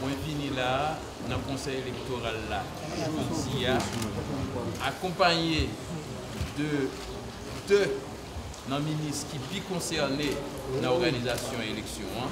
Mwen vini la a nan konsèy elektoral la jodi a akonpanye de 2 nan minis ki pi konsène nan òganizasyon eleksyon an.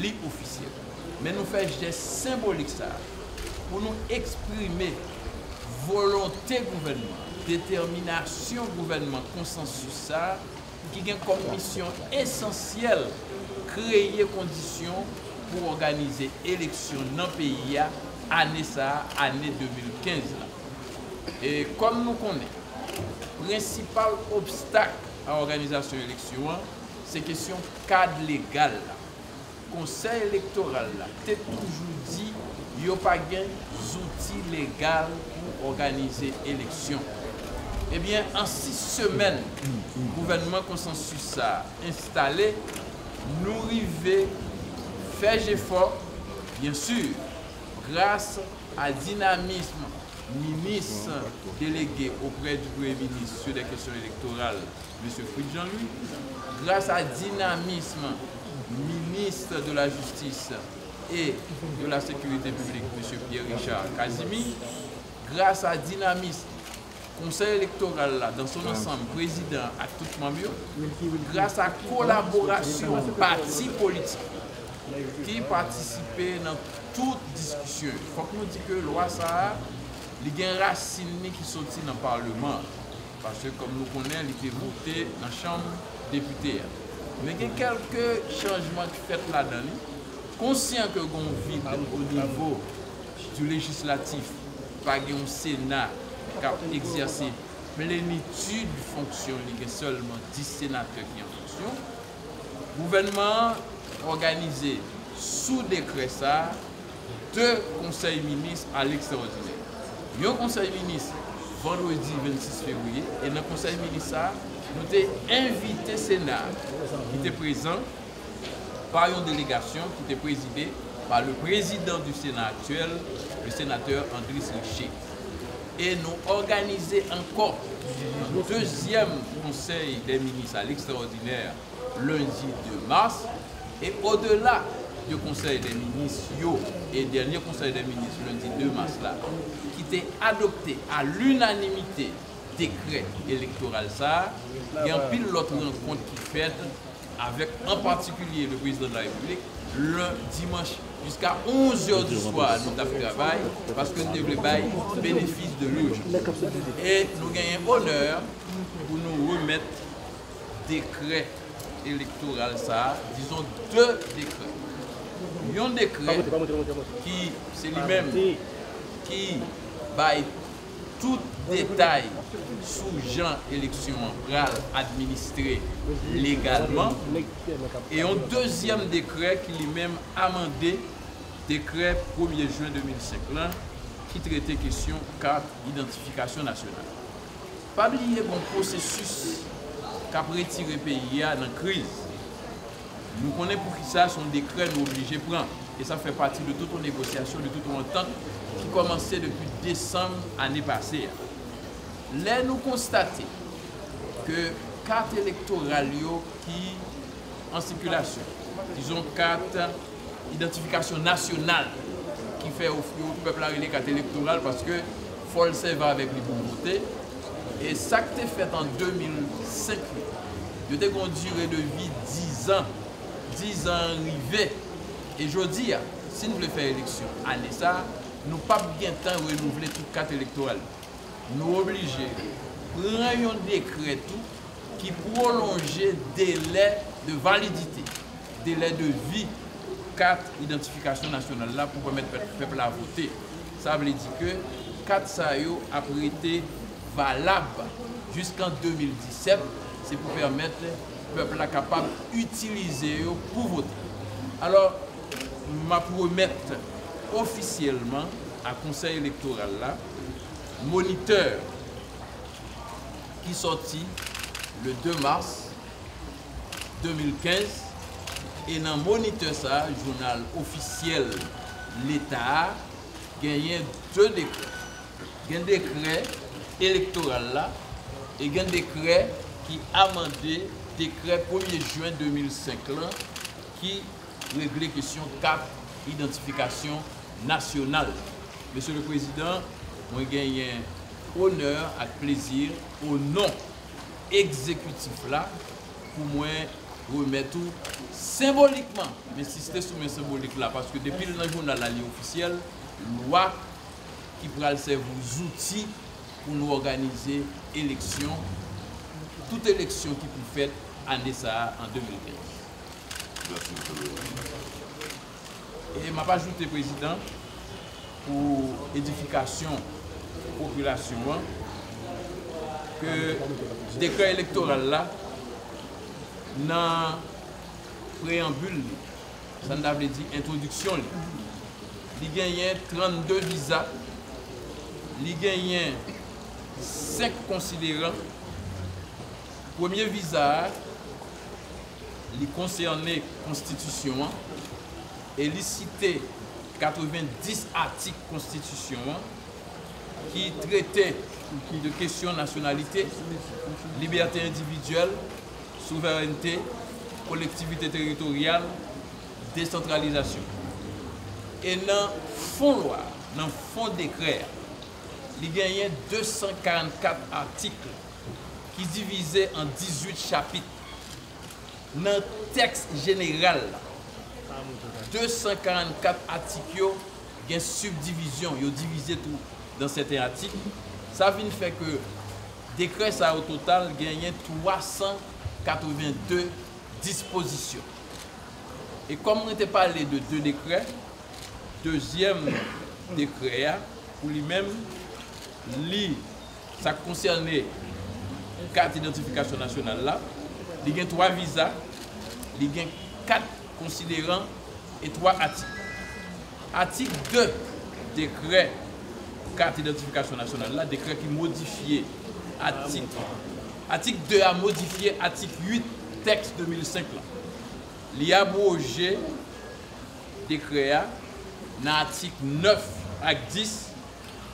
Li ofisyèl. Men nou fè jès senbolik sa a pou nou eksprime volonte gouvènman an, detèminasyon gouvènman konsansis sa a ki gen kòm misyon esansyèl kreye kondisyon pou òganize eleksyon nan peyi a ane sa a, ane 2015 la. E kòm nou konnen, prensipal obstak a òganizasyon eleksyon an se kesyon. kad legal la, Konsèy Elektoral la te toujou di yo pa gen zouti legal pou òganize eleksyon. Ebyen, an 6 semèn gouvènman konsansis sa a enstale, nou rive fè jefò, byen si, gras a dinamism Minis Delege oprè di Premye Minis sou lè kesyon elektoral, Mesye Fritz Jean-Louis, gras a dinamism Ministre de la Justice et de la Sécurité Publique, Mesye Pierre Richard Casimir, gras a dinamism Konsèy Elektoral la dan son ansanm, Prezidan an ak tout manm yo, gras a kolaborasyon pati politik yo ki patisipe nan tout diskisyon yo. Fòk nou di ke lwa sa a, li gen rasin li ki soti nan Parleman an. Paske kòm nou konnen li te vote nan chanm depite a. Men gen kèlke chanjman ki fèt ladan li. Konsyan ke gen yon vid o nivo di lejislatif, pa gen yon sena k ap egzèse plenitid fonksyon li gen sèlman 10 senatè ki an fonksyon. Gouvènman an òganize sou dekrè sa 2 konsèy minis a lekstraòdinè. Yon konsèy minis vandredi 26 fevriye e nan konsèy minis sa a nou te envite sena a ki te prezan pa yon delegasyon ki te prezide pa le prezidan di sena aktyèl le senatè Andris Riché e nou òganize ankò yon dezyèm konsèy dè minis a lekstraòdinè lendi 2 mas, e odela de Konsèy dè Minis yo e dènye Konsèy dè Minis lendi 2 mas la ki te adopte a linanimite dekrè elektoral sa a, gen anpil lòt rankont ki fèt avèk an patikilye le Prezidan de la Repiblik le dimanch jiska 11 zè di swa nou t ap travay paske nou te vle bay benefis de lurjans e nou genyen onè pou nou remèt dekrè elektoral sa a, dizon 2 dekrè. Yon dekrè ki se li menm ki bay tout detay sou jan eleksyon an pral administre legalman e yon dezyèm dekrè ki li menm amande dekrè premye jen 2005 lan ki trete kesyon kat idantifikasyon nasyonal. Pa bliye gon pwosesis kap retire peyi a nan kriz. Nou konnen poukisa son dekrè nou oblije pran e sa fè pati de tout on negosyasyon, de tout on antant ki kòmanse depi desanm ane pase a. Lè nou konstate ke kat elektoral yo ki an sikilasyon, dizon kat. idantifikasyon nasyonal ki fè yo pèp la rele kat elektoral paske fòl sèvi avèk li poul vote e sak te fèt an 2005 yo yo te gen yon dire de vi 10 an 10 an rive e jodi a sin vle fè eleksyon ane sa nou pap gentan renouvle tout kat elektoral yo nou oblije pran yon dekrè tou ki pwolonje delè de validite. Delè de vi kat idantifikasyon nasyonal la pou pèmèt pèp la vote. Sa vle di ke kat sa yo ap rete valab jiskan 2017, se pou pèmèt pèp la kapab itilize yo pou vote. Alò, m ap remèt ofisyèlman a Konsèy Elektoral la monitè ki sòti le 2 mas. 2015 e nan Moniteur sa a, jounal ofisyèl Leta a, genyen 2 dekrè. Gen dekrè elektoral la e gen dekrè ki amande dekrè premye jen 2005 lan ki regle kesyon kat idantifikasyon nasyonal. Mesye le Prezidan, mwen genyen onè ak plezi o non Egzekitif la pou mwen remèt ou senbolikman, m ensiste sou men senbolik la paske depi l nan jounal la li ofisyèl, lwa ki pral sèvi w zouti pou nou òganize eleksyon, tout eleksyon ki pou fèt ane sa a an 2015. Mèsi, Msye Prezidan. E m ap ajoute prezidan pou edifikasyon popilasyon an ke dekrè elektoral la nan preyanbil li, sa n ta vle di entwodiksyon li, li genyen 32 viza, li genyen 5 konsideran, premye viza a. Li konsène Konstitisyon an e li site 90 atik Konstitisyon an ki trete de kesyon nasyonalite, libète endividyèl, souverènte, kolektivite teritoryal, desantralizasyon. E nan fon lwa a, nan fon dekrè a, li genyen 244 atik ki divize an 18 chapit. Nan tèks jeneral la, 244 atik yo gen sibdivizyon, yo divize tou dan sèten atik, sa vin fè ke dekrè sa yo total genyen 382 dispozisyon. E kòm mwen te pale de 2 dekrè, dezyèm dekrè a pou li menm li. Sa k konsène pou kat idantifikasyon nasyonal la, li gen twa viza, li gen kat konsideran e twa atik. Atik 2 dekrè pou kat idantifikasyon nasyonal la, dekrè ki modifye atik, atik 2 a modifye atik 8 tèks 2005 la. Li abwoje dekrè a nan atik 9 ak 10.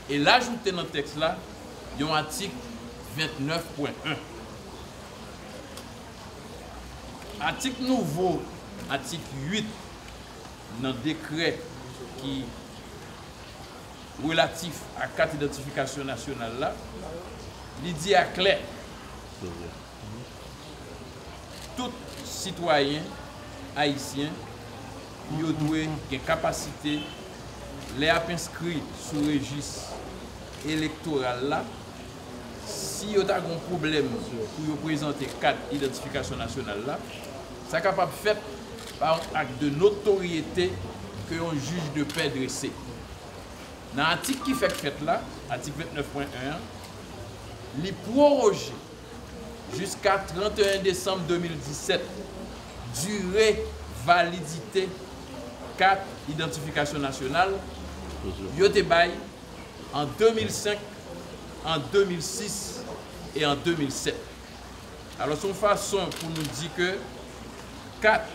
e l ajoute nan tèks la yon atik 29 pwen 1. Atik nouvo atik 8 nan dekrè ki relatif a kat idantifikasyon nasyonal la, li di aklè. Tout sitwayen ayisyen yo dwe gen kapasite lè y ap enskri sou rejis elektoral la, si yo ta gen pwoblèm pou yo prezante kat idantifikasyon nasyonal la, sa kapab fèt pa yon ak de notoryete ke yon jij de pè drese. Nan atik ki fèk fèt la, atik 29.1 an, li pworoje. jiska 31 desanm 2017, dire validite kat idantifikasyon nasyonal yo te bay an 2005, an 2006 e an 2007. Alòs, yon fason pou nou di ke kat,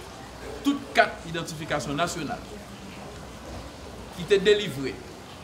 tout kat idantifikasyon nasyonal ki te delivre,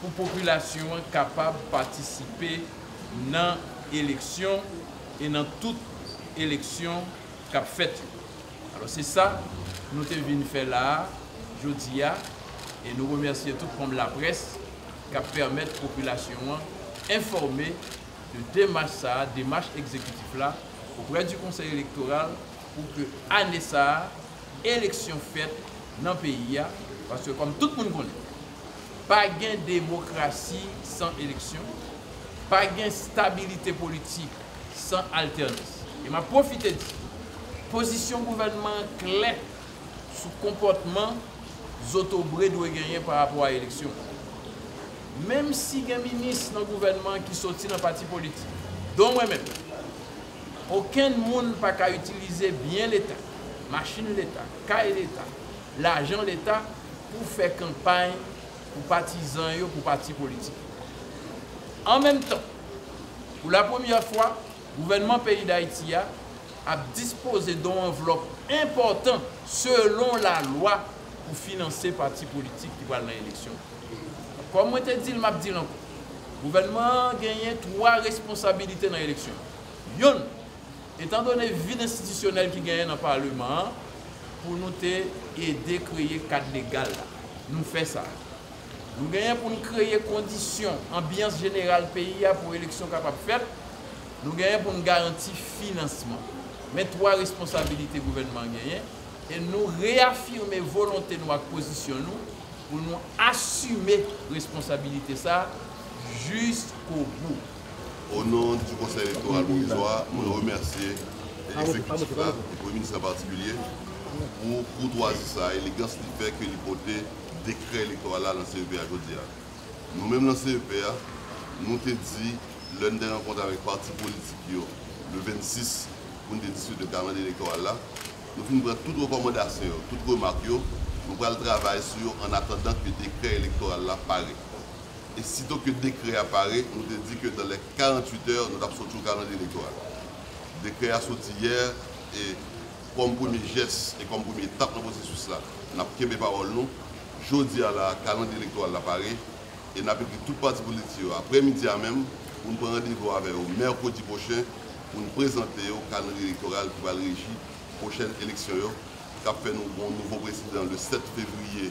pou popilasyon an kapab patisipe nan eleksyon e nan tout eleksyon k ap fèt yo. Alò se sa nou te vin fè la a jodi a e nou remèsye tout manm laprès k ap pèmèt popilasyon an enfòme de demach sa a, demach egzekitif la oprè di konsèy elektoral pou ke ane sa a eleksyon fèt nan peyi a paske kòm tout moun konnen. Pa gen demokrasi san eleksyon, pa gen stabilite politik san altènans. E m ap pwofite di, pozisyon gouvènman an klè sou konpòtman zotobre dwe genyen pa rapò a eleksyon. Menm si gen minis nan gouvènman an ki soti nan pati politik, don mwen menm, okenn moun pa ka itilize byen leta, machin leta, kay leta, lajan leta, pou fè kanpay pou patizan yo pou pati politik yo. An menm tan, pou la premyè fwa, gouvènman peyi Dayiti a ap dispoze don anvlòp enpòtan selon lalwa pou finanse pati politik ki pral nan eleksyon. Kòm mwen te di l, m ap di l ankò, gouvènman an genyen twa responsabilite nan eleksyon yo. Youn. Etan done vid enstitisyonèl ki genyen nan paleman an, pou nou te ede kreye kad legal la, nou fè sa. Nou genyen pou n kreye kondisyon, anbyans jeneral peyi a pou eleksyon kapab fèt, nou genyen pou n garanti finansman. Men twa responsabilite gouvènman an genyen, e nou reyafime volonte nou ak pozisyon nou pou nou asime responsabilite sa jiskobou. O non di Konsèy Elektoral Pwovizwa a, mwen remèsye Ekzekitif la, e Premye Minis an patikilye, pou koutwazi sa a, elegans li fè ke li pote dekrè elektoral la lan CEP a jodi a. Nou menm lan CEP a, nou te di, lè n te rankontre avèk pati politik yo le 26 pou n te diskite kalandriye elektoral la, nou fin pran tout rekòmandasyon yo, tout remak yo, nou pral travay sou yo annatandan ke dekrè elektoral la pare. E sito ke dekrè a pare, nou te di ke nan lè 48 è, nou t ap soti yon kalandriye elektoral. Dekrè a soti yè, e kòm premye jès, e kòm premye etap nan pwosesis la, n ap kenbe pawòl nou. Jodi a la a, kalandriye elektoral la pare, e n ap ekri tout pati politik yo aprè midi a menm, pou n pran randevou avè yo mèkredi pwochen, pou n prezante yo kalandriye elektoral ki pral reji pwochèn eleksyon yo, k ap fè nou gen yon nouvo prezidan le 7 fevriye.